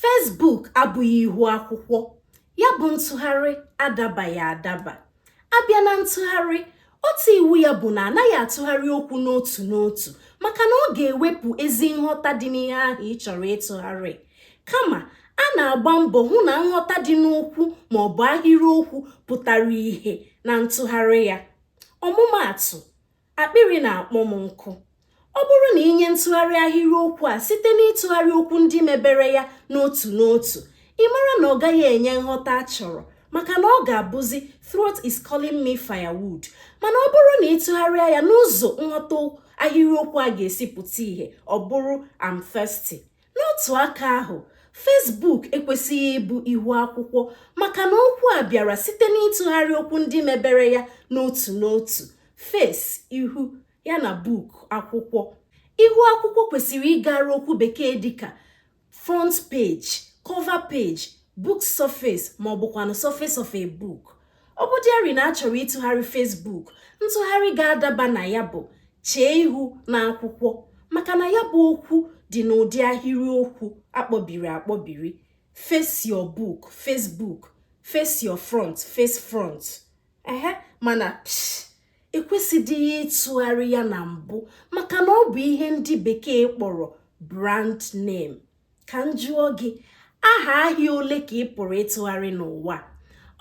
Facebook abụghị ihu akwụkwọ ya bụ ntụgharị adabaghị adaba a bịa na ntụgharị otu iwu ya bụ na anaghị atụgharị okwu n'otu n'otu maka na ọ ga-ewepụ ezi nghọta dị n'ihe ahụ ị chọrọ ịtụgharị kama a na-agba mbọ hụ na nghọta dị n'okwu ma ọ bụ ahịrịokwu pụtara ihe na ntụgharị ya ọmụmaatụ Akpịrị na-akpọ m nkụ. Ọ bụrụ na i nye ntụgharị ahịrịokwu a site n'ịtụgharị okwu ndị mebere ya n'otu n'otu, ị mara na ọ gaghị enye nghọta a chọrọ maka na ọ ga-abụzi throat is calling me firewood mana ọ bụrụ na ị tụgharịa ya n'ụzọ nghọta ahịrịokwu a ga-esi pụta ihe ọ bụrụ I'm thirsty. n'otu aka ahụ Facebook ekwesịghị ịbụ ihu akwụkwọ maka na okwu a bịara site n'ịtụgharị okwu ndị mebere ya n'otu n'otu face ihu ya na book akwụkwọ ihu akwụkwọ kwesịrị ịgara okwu bekee dịka front page cover page book surface ma ọ bụkwanụ surface of a book ọ bụdịarị na a chọrọ ịtụgharị Facebook ntụgharị ga-adaba na ya bụ chee ihu n'akwụkwọ maka na ya bụ okwu dị n'ụdị ahịrịokwu a kpọbiri akpọbiri face your book Facebook face your front face front ehe mana ekwesịdịghị ịtụgharị ya na mbụ maka na ọ bụ ihe ndị bekee kpọrọ brand name ka m jụọ gị aha ahịa ole ka ị pụrụ ịtụgharị n'ụwa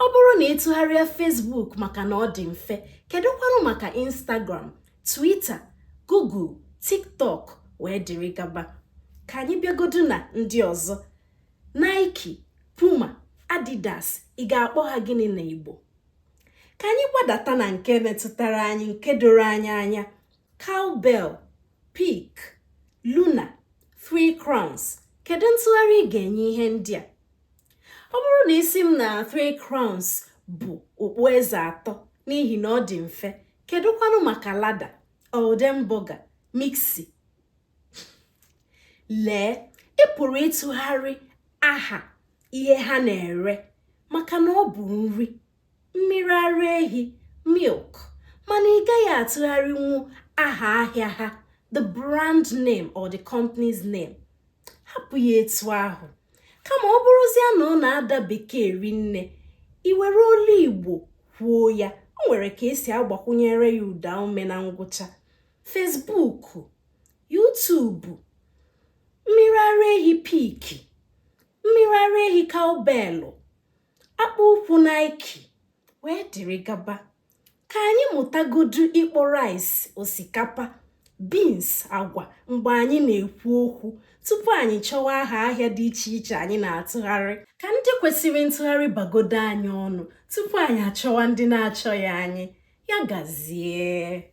ọ bụrụ na ị tụgharịa Facebook maka na ọ dị mfe kedụkwanụ maka Instagram Twitter Google TikTok wee dịrị gaba ka anyị bịagodu na ndị ọzọ Nike Puma Adidas ị ga-akpọ ha gịnị na Igbo ka anyị gbadata na nke metụtara anyị nke doro anyị anya Cowbell Peak Luna Three Crowns kedu ntụgharị ị ga-enye ihe ndị a ọ bụrụ na ị sị m na Three Crowns bụ okpueze atọ n'ihi na ọ dị mfe kedụkwanụ maka Lahda Oldenburger Miksi lee ị pụrụ ịtụgharị aha ihe ha na-ere maka na ọ bụ nri mmiri ara ehi milk mana ị gaghị atụgharịnwu aha ahịa ha the brand name or the company's name hapụ ya etu ahụ kama ọ bụrụzie na ọ na-ada bekee rinne i were olu igbo kwuo ya o nwere ka e si agbakwunyere ya ụdaume na ngwụcha Facebook yutubu mmiri ara ehi piki mmiri ara ehi kaubelu akpụ ụkwụ Nike wee dịrị gaba ka anyị mụtagodu ịkpọ rice osikapa beans agwa mgbe anyị na-ekwu okwu tupu anyị chọwa aha ahịa dị iche iche anyị na-atụgharị ka ndị kwesịrị ntụgharị bagodo anyị ọnụ tupu anyị achọwa ndị na-achọghị anyị ya gazie